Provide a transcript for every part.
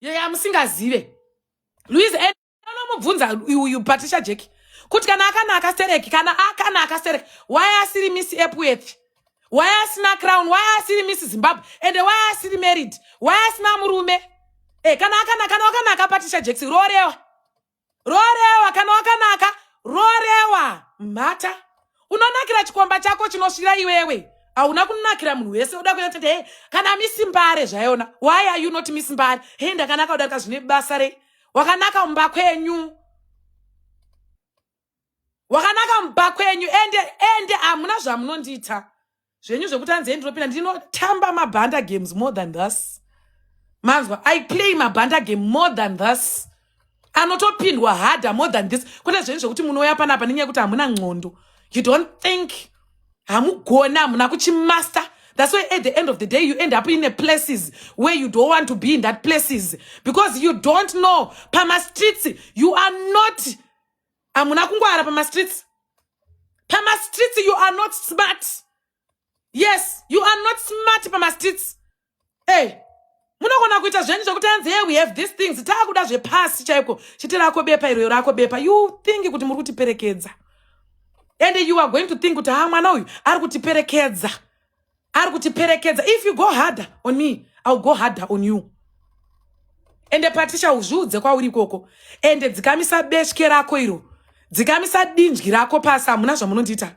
yeya musingazive luis anomubvunza uyu patricia jack kuti kana akanaka stereki kana akanaka stereki waye asiri miss epworth waye asina crown waye asiri miss zimbabwe ende waye asiri married waye asina murume e, kana akanaka kana wakanaka patricia jackson roorewa roorewa kana wakanaka roorewa mhata unonakira chikomba chako chinosvira iwewe hauna kunakira munhu wese uda kuita kuti he kana misimbare zvaiona why are you not misimbare he ndakanaka udarika zvine basa rei wakanaka mumba kwenyu wakanaka mumba kwenyu ende ende hamuna zvamunondiita zvenyu zvekuti hanzi hei ndinopinda ndinotamba mabhanda games more than thus manzwa i play mabhanda game more than thus anotopindwa harder more than this kwete zvenyu zvekuti munouya panapa nenyaya yekuti hamuna nxondo you don't think hamugona hamuna kuchimaster That's why at the end of the day, you end up in a places where you don't want to be in that places because you don't know. Pama streets, you are not hamuna kungwara pamastreets pamastreets you are not smart yes you are not smart pamastreets ey hey. munogona kuita zvenyu zvekuti anzi hey we have these things taakuda zvepasi chaiko chete rako bepa iroyo rako bepa you think kuti muri kutiperekedza and you are going to think kuti ha ah, mwana uyu ari kutiperekedza ari kutiperekedza if you go harder on me ill go harder on you ende patricia uzviudze kwauri ikoko ende dzikamisa besvke rako iro dzikamisa dinzwi rako pasi hamuna zvamunondiita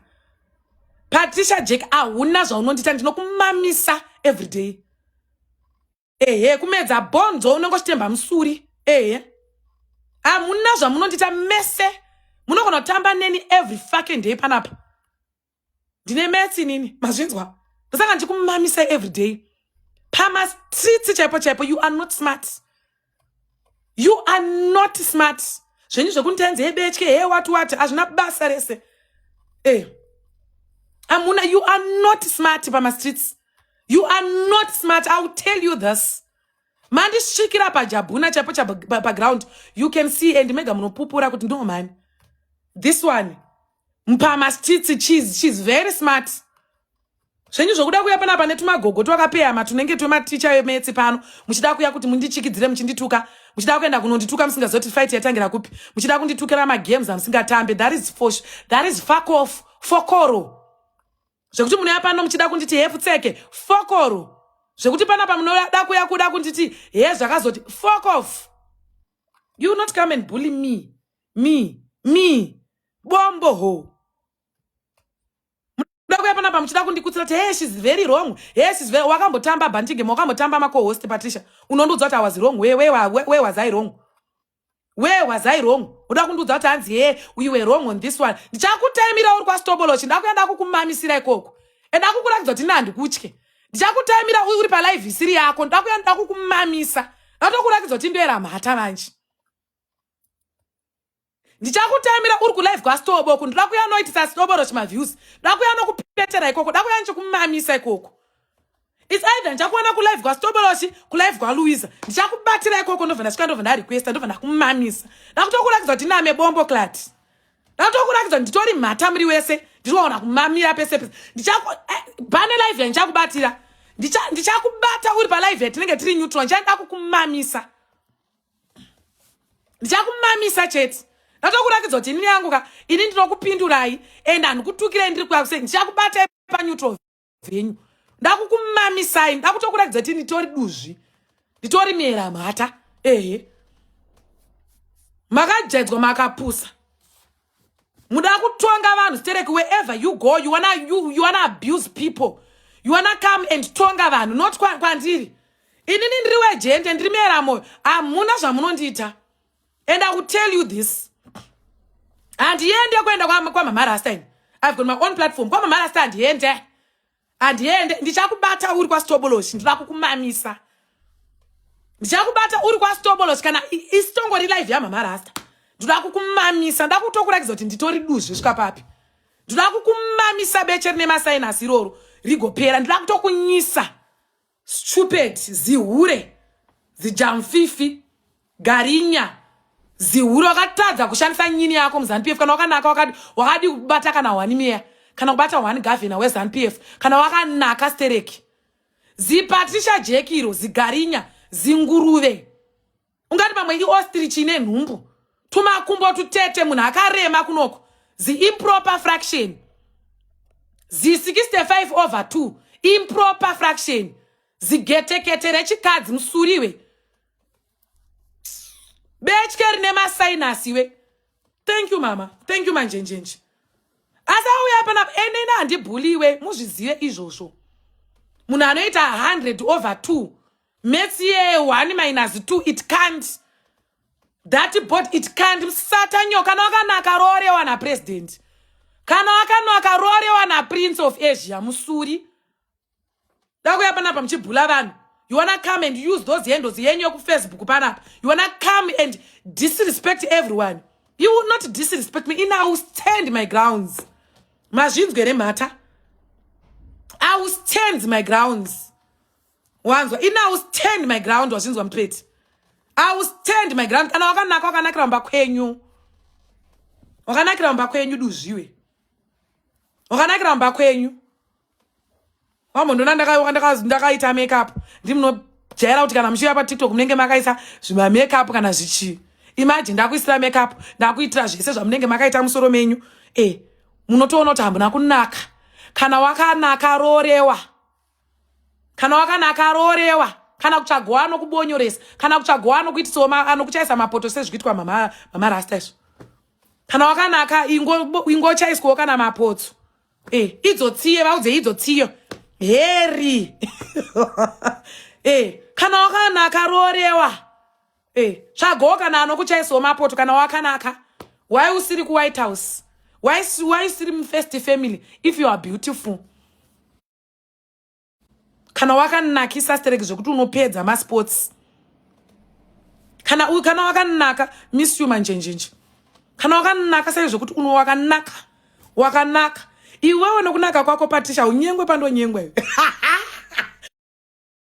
patricia jack ahuna zvaunondiita ndinokumamisa everyday ehe kumedza bonzo unenge uchitemba musuri ehe hamuna zvamunondita mese munogona kutamba neni every fucking day panapa ndine metsi nini mazvinzwa ndosaka ndichikumamisa every day pamastreets chaipo chaipo you are not smart you are not smart zvenyu zvekunditanzi hebetye he wati wati hazvina basa rese e eh. amuna you are not smart pamastreets you are not smart iwill tell you this mandisvikira pajabhuna chaipo paground you can see and mega munopupura kuti no mani this one mpama stits cheese she's very smart zvenyu zvokuda kuya panapa netumagogo twakapeyama tunenge twematicha emetsi pano muchida kuya kuti mundichikidzire muchindituka muchida kuenda kunondituka musingazoti fight yatangira kupi muchida kunditukira magames amusingatambe that is fosh that is fuck off fokoro zvekuti munouya pano muchida kunditi hefu tseke fokoro zvekuti panapa munoda kuya kuda kunditi he zvakazoti fok off you not come and bully me me me bombo ho munoda kuya panapa muchida kundikutsira kuti he shes very wrong he shes very wakambotamba bandigema wakambotamba makohost patricia unondiudza kuti awas wrong where was i wrong where was i wrong uda kundiudza kuti hanzi hee we were wrong on this one ndichakutaimira uri kwastobolochi ndakuya ndakukumamisira ikoko and akukuratidza kuti nandikutye ndichakutaimira uri palive isiri yako ndakuya ndakukumamisa ndatokuratidza kuti ndoera mhata manje ndichakutaimira uri kulive kwastoboko ndoda kuya noitisa stobolochi maviews ndakuya nokupetera ikoko ndakuya ndichikumamisa ikoko its either ndichakuona kulive kwastoboloshi kulive kwaluisa ndichakubatira ikoko ndobva ndasvika ndobva ndarequesta ndobva ndakumamisa ndakutokurakidza kuti name bombo clat ndakutokurakidza kuti nditori mhata muri wese ndiriwaona kumamira pese pese ndichakubane eh, live yandichakubatira ndichakubata uri palive yatinenge tiri neutral ndichaenda kukumamisa ndichakumamisa chete ndatokurakidza kuti inini yangu ka ini ndinokupindurai and handikutukirei ndiri kuyakusei ndichakubatai paneutral dzenyu ndakukumamisai ndakutokuratidza kuti nditori duzvi nditori miera mhata ehe makajaidzwa makapusa muda kutonga vanhu stereki wherever you go you wanna, you, you wanna abuse people you wanna come and tonga vanhu not kwandiri kwa inini ndiri wejende ndiri miera moyo hamuna zvamunondiita and i will tell you this handiende kuenda kwamama rasta ini i've got my own platform kwamama rasta handiende handiende ndichakubata uri kwastoboloshi ndinoda kukumamisa ndichakubata uri kwastoboloshi kana isitongori live yamama rasta ndinoda kukumamisa ndoda kutokurakidza kuti nditori duzvi svika papi ndinoda kukumamisa beche rine masainasi iroro rigopera ndinoda kutokunyisa stupid zihure zijamfifi garinya zihure wakatadza kushandisa nyini yako muzanupf kana wakanaka wakadi wakadi kubata kana hwani meya kana kubata hwani gavhina wezanupf kana wakanaka stereki zipatricia jekiro zigarinya zinguruve ungati pamwe iostrich ine nhumbu tumakumbo tutete munhu akarema kunoko ziimproper fraction zi65 over 2 improper fraction zigetekete rechikadzi musuriwe betye rine masainasi we thank you mama thank you manjenjenje asi auya panapa enene handibhuliwe muzvizive izvozvo munhu anoita 100 over 2 maths ye 1 minus 2 it can't that board it can't msata nyo kana wakanaka roorewa napresident kana wakanaka roorewa naprince of asia musuri dakuya panapa muchibhula vanhu you wanna come and use those handles yenyu yekufacebook panapa you wanna come and disrespect everyone you will not disrespect me in i will stand my grounds mazvinzwe remhata i will stand my grounds wanzwa ini i will stand my ground wazvinzwa mupeti i will stand my ground kana wakanaka wakanakira kumba kwenyu wakanakira kumba kwenyu duzviwe wakanakira kumba kwenyu wambondiona ndakaita makeup ndimunojaira kuti kana muchiuya patiktok munenge makaisa zvimamakeup kana zvichii imagine ndakuisira makeup ndakuitira zvese zvamunenge makaita musoro menyu e munotoona kuti hambuna kunaka kana wakanaka rorewa kana wakana akaroorewa kana kutsvagowa anokubonyoresa kana kutsvagowa anokuitisawo anokuchaisa mapoto sezvikuitwa mama mama rasta izvo kana wakanaka ingo ingo chaiswawo kana mapotso eh idzo tsiye vaudze idzo tsiyo heri eh kana wakanaka roorewa eh tsvagowo kana anokuchaisawo mapoto kana wakanaka why usiri ku white house why why usiri mu first family if you are beautiful kana wakanakisa stereki zvekuti unopedza masports kana uyu kana wakanaka miss you manjenjenje kana wakanaka sei zvekuti uno wakanaka wakanaka iwewe nokunaka kwako patisha unyengwe pandonyengwe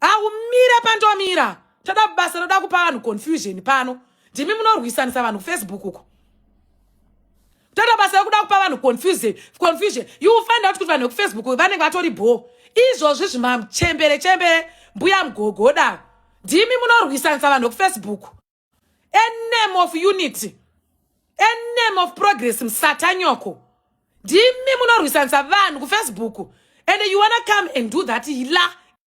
aumira pandomira toda basa roda kupa vanhu confusion pano ndimi munorwisanisa vanhu kufacebook uko toda basa rokuda kupa vanhu confusion confusion you will find out kuti vanhu vekufacebook vanenge vatori bho izvozvi zvimachembere chembere mbuya mugogoda ndimi munorwisanisa vanhu vekufacebook a name of unity a name of progress musatanyoko ndimi munorwisanisa vanhu kufacebook and you wanna come and do that hila